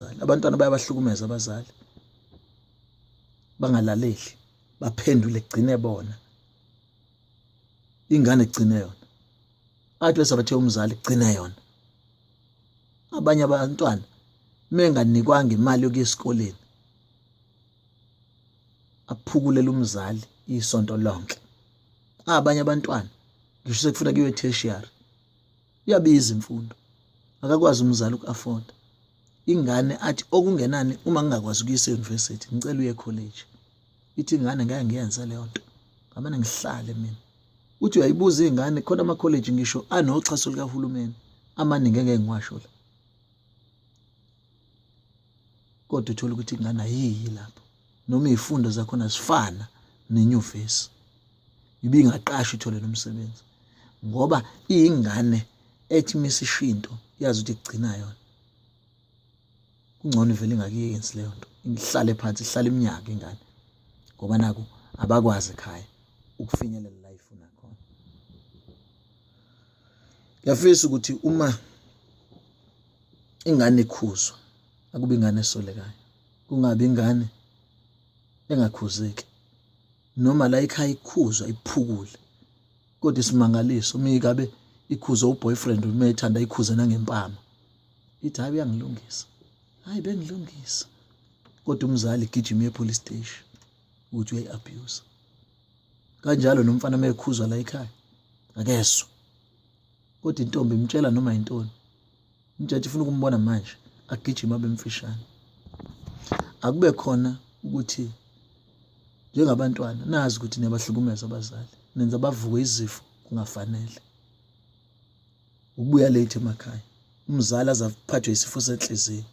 abazali abantwana bayabahlukumeza abazali bangalaleli baphendule gcine bona ingane gcine yona athi wesabathe umzali gcine yona abanye abantwana menganikwanga imali yokuya esikoleni aphukulela umzali isonto lonke abanye abantwana ngisho sekufuna kuyiwe tertiary Iyabiza imfundo. Akakwazi umzali uku-afforda. Ingane athi okungenani uma ngingakwazi ukuyisa e-university ngicela uye college. Ithi ingane ngeke ngiyenze leyo nto. Ngamane ngihlale mina. Uthi uyayibuza ingane khona ama college ngisho anoxhaso likahulumeni amaningi engeke ngiwasho la. kodwa uthole ukuthi ingane ayiyi lapho noma izifundo zakhona zifana nenyuvesi ibingaqasha ithole nomsebenzi ngoba iyingane ethi misishinto yazi ukuthi igcina yona kungcono ivele ingakiyenzi leyo nto ihlale phansi ihlale iminyaka ingane ngoba naku abakwazi ekhaya ukufinyelela la ifuna khona ngiyafisa ukuthi uma ingane ikhuzwe akuba ingane esolekayo kungabi ingane engakhuzeki noma la ikhaya ikhuzwa iphukule kodwa isimangaliso uma ikabe ikhuze uboyfriend uma ethanda ikhuze nangempama ithi hayi uyangilungisa hayi bengilungisa kodwa umzali gijima epolice station ukuthi uyayi-abuse kanjalo nomfana uma ekhuzwa la ekhaya akezwa kodwa intombi imtshela noma yintoni umjaji ufuna ukumbona manje agijima bemfishane akube khona ukuthi njengabantwana nazi ukuthi niyabahlukumeza abazali nenza bavuke izifo kungafanele ukubuya late emakhaya umzali azaphathwe isifo senhliziyo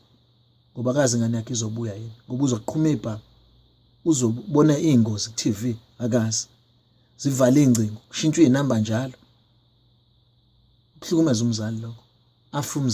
ngoba kazi ngane yakhe izobuya yini ngoba uzoqhuma ibhanga uzobona iingozi ku-TV akazi zivale iy'ngcingo kushintshwe iy'namba njalo kuhlukumeza umzali lokho afe umzali.